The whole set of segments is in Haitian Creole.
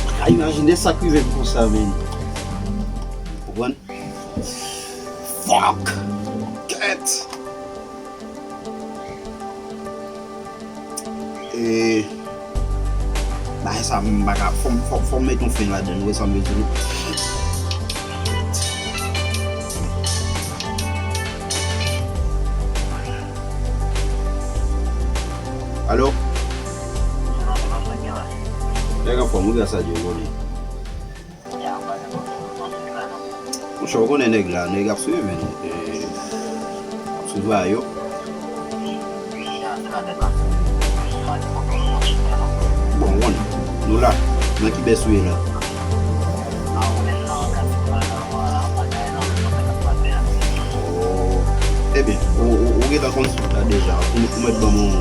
Mpa ka imajine sak rivem konsa menn Ou konprann? Fuck! Kèt! Eee Bagay sa mpa ka fòm met yon fen ladann ou wè sam vle di non Kèt! Alo? Nèg anfòm wi gras a Dye ou konnen. Monchè ou konnen nèg la, nèg ap swiv men, ap swiv bagay yo. Bon ou konnen, nou la, nan kibès ou ye la? Ebyen ou gentan konn suite la deja ou mèt banm yon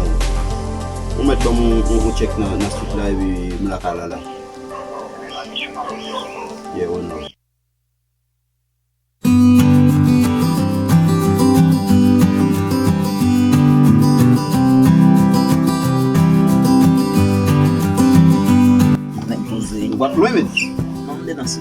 ou mèt banm yon check nan suite la epi m lakay la la yeah ou nan. Ou pat lwen menm?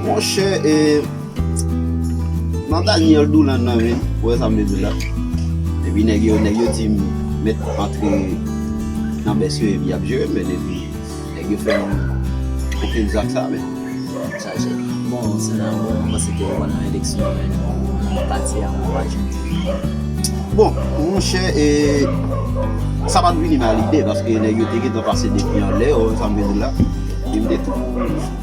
Monchè e Nan Daniel Douland nan menm ou wè sa m vle di w la epi nèg yo nèg yo di m met antre Nan bès yo epi y ap jere m men epi nèg yo fè m kokenn zak sa menm. Chaje. Bon se nan bon m panse ke ou pa nan eleksyon men nan pati a mwen pa janm jwenn. Bon monchè e sa pa t vini m a lide paske nèg yo te gentan pase depi anlè ou wè sa m vle di w la epi m te tou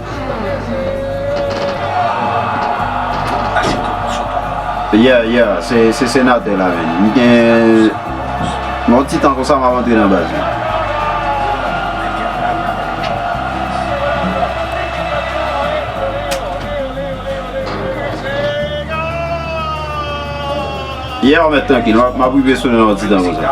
Yeah yeah se se senatè la menm m gen yon ti tan konsa map antre nan baz la. Yeah ou mèt trankil map rive sou nou nan yon ti tan konsa.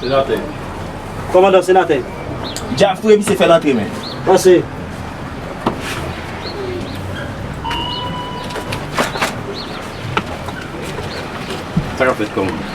Senatè. Kòmandan, Senatè. Djafre, misye fè l antre men. Pase. Sa k ap fèt kòmandan?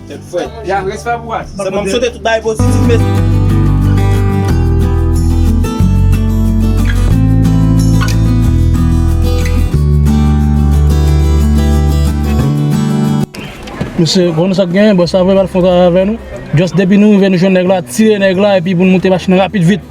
Tèt fwèt. Ya respè pou atis la. Mwen swete tout bagay pozitif mesye. Mesye bon nou sak gen bon sa vre pral fon travay avè nou just depi nou rive nou jwenn nèg la tire nèg la epi pou nou moute machin nan rapid vit.